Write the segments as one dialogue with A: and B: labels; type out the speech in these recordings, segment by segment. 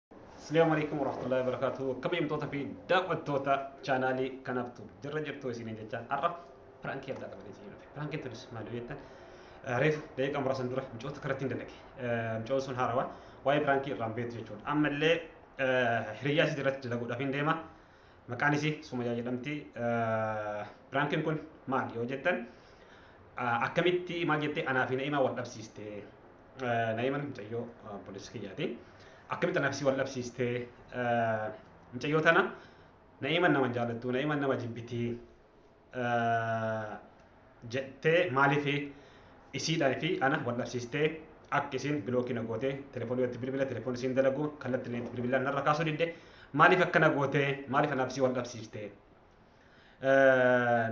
A: Assalamu alaikum warahmatullahi wabarakatuh. Akkam himtoota fi daawwattoota chaanaalii kanaaf tu jirra jirtu isiniin jecha har'a piraankii addaa qabatee isin dhufe. Piraankiin tunis maal yoo jettan reefu daqiiqa muraasan dura micoota karatti hin dalage. Micoon sun haarawaa waa'ee piraankii irraan beektu jechuudha. Ammallee hiriyyaa isii irratti dalaguudhaaf hin deema. Maqaan isii Sumayyaa jedhamti. Piraankiin kun maal yoo jettan akkamitti maal jettee anaa fi na'imaa wal dhabsiiste. Na'iman mucayyoo obboleessa kiyyaati. Akkamitti nafsi wal dhabsiistee mucayyoo tana na'iman nama jaallattu na'iman nama jibbiti jettee maaliif isiidhaa fi ana wal dhabsiistee akka isin bilookii na goote telefoonii walitti bilbila telefoonii isin dalagu kallattiin itti bilbilaan narra kaasuu didde maaliif akkana goote maaliif nafsi wal dhabsiistee.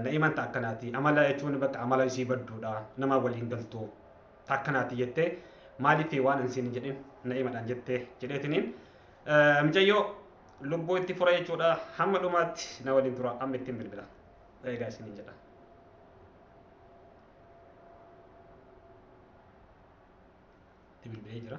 A: na'iman ta akkanaati amala jechuun bakka amala isii badduudha nama waliin galtu ta akkanaati jettee maaliif waan ansiin hin jedhin na'imadhaan jettee jedheetiniin micayyoo lubbuu itti fura jechuudha hamma dhumaatti na waliin tura amma ittiin bilbila eegaa isiniin jedha. Itti bilbilee jira.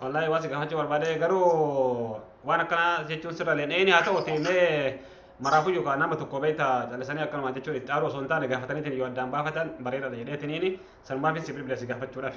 A: wallahi waan si gaafachuu barbaade garuu waan akkanaa jechuun sirra leen eeni haa ta'uti mee maraafuu yookaan nama tokko beekta callisanii akkanuma jechuun itti aaruu osoo hin taane gaafataniitiin yoo addaan baafatan bareedaadha jedheetiniini sanumaafin si bilbila si gaafachuudhaaf.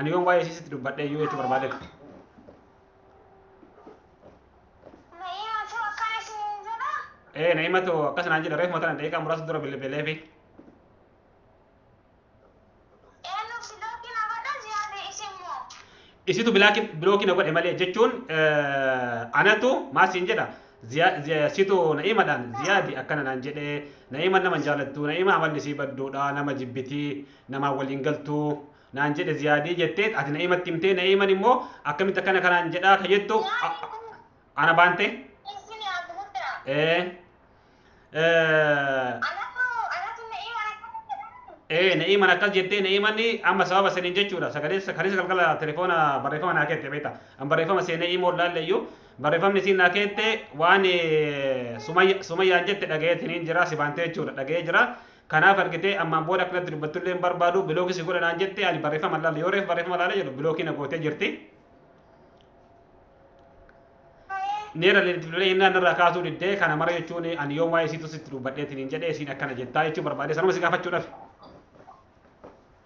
A: Ani yoon waa'ee isiisitti dubbadhe iyyuu jechuu barbaade. Ee na himatu akkas naan jedhe reefuma tana daqiiqaa muraasa dura bilbilee fi. Isitu bilookii na godhe malee jechuun anatu maal siin jedha. Situ na'imadhaan ziyaadi akkana naan jedhee na'ima nama jaalattu na'ima amalli isii badduudha nama jibbitii namaan wal hin galtu naan jedhe ziyaadii jettee ati na'imatti himtee na'iman immoo akkamitti akkana kanaan jedhaa ka jettu a- a- ana baante Isin yaadu hundaa. ee ee, Anatu anatu na'ii mana kana jedhamu. ee na'iman akkas jettee na'imanni amma sababa saniin jechuudha sagalee kaleessa galgala telefoona barreeffama naa keette beekta an barreeffama seenee imoo laalleyyuu barreeffamni siin naa keette waan ee, Sumayya- sumayyaan jette dhaga'eetiniin jira si baantee jechuudha dhaga'ee jira Kanaaf argitee ammaan booda akka natti dubbattullee hin barbaadu bilookii si godha naan jette ani barreeffama hin laalle yoo reef barreeffama laale jedhu bilookii na gootee jirti. Neera leeliflee hinnaan irraa kaasuu diddee kana mara jechuun ani yoom waa'ee isiitu sitti dubbadheetiin hin jedhee isiin akkana jettaa jechuu barbaadee sanuma si gaafachuudhaaf.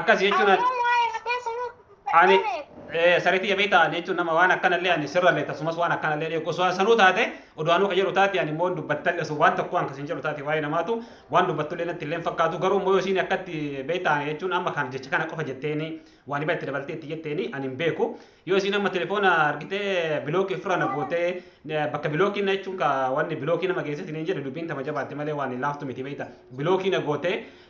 A: akkas jechuun ani Ammoo waa'ee mataa sanuu ani eh, sariitii jabee ta'an jechuun nama waan akkanallee ani sirrallee tasumas waan akkanallee dheeku osoo an sanuu taate oduwaanuu ka jedhu taate ani immoo hin dubbattalle osoo waan tokko an kasin jedhu taate waa'ee namaatu waan dubbattullee natti illee hin fakkaatu garuu immoo yoo isiin akkatti beektaan jechuun amma kan jecha kana qofa jetteeni waan iba itti dabaltee itti jetteeni ani hin beeku yoo isiin amma telefoona argitee bilookii ofirra na gootee eh, bakka bilookii na jechuun ka wanni bilookii nama geessatti ni jedhu dubbiin tama jabaatte malee waan hin laaftu miti beekta bilookii na gootee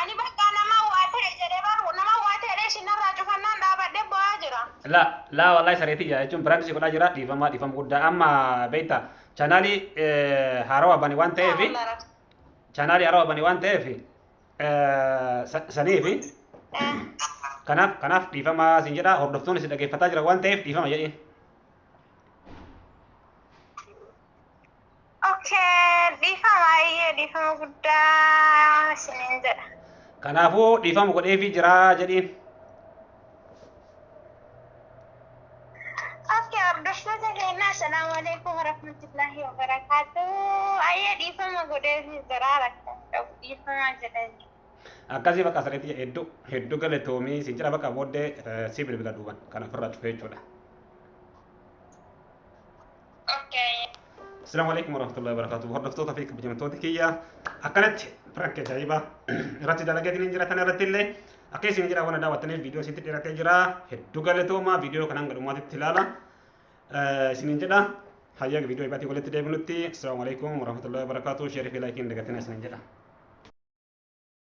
A: Ani bakka
B: naman waa ta'e jedhe bar naman waa ta'e jedhee isin narraa cufannaan dhaabadhe bo'aa jira. La la wallahi
A: saree tiyya jechuun prank si godhaa jira dhiifama dhiifama guddaa amma beekta chaanaalii haarawa bane waan ta'eef Yaa Allah Rabbi. chaanaalii haarawa bane waan ta'eef saniif Eh, kanaaf kanaaf dhiifama sin jedha hordoftoonni si dhageeffataa jira waan ta'eef dhiifama jedhiin.
B: Okay, dhiifama baay'ee dhiifama guddaa isiniin jedha. Kanaafuu
A: dhiifama godheefii jira jedhiin.
B: Okay, hordoftoota keenya assalaamu alaikum warahmatullahi wabarakatuh. Ayyee dhiifama godheefii jira rakkan qabu dhiifama jedheen. Akkasii bakka
A: sirriitti jedhe hedduu hedduu galatoomii siin jedha bakka booddee eh, si bilbila duuban kan ofirraa cufee jechuudha. Assalamu alaikum warahmatullahi wabarakatuh. Hordoftoota fi kabajamtoota kiyya akkanatti prank ajaa'iba irratti dalagaa jiran jira kana irratti illee akka isin jira waan daawwattaniif viidiyoo isinitti dhiyaatee jira. Hedduu galatoomaa viidiyoo kana hanga dhumaatitti ilaala. Isiniin jedha hayyaa viidiyoo ibaatii walitti deebinutti. Assalamu alaikum warahmatullahi wabarakatuh. Sheerii fi laayikiin dagatina isiniin jedha.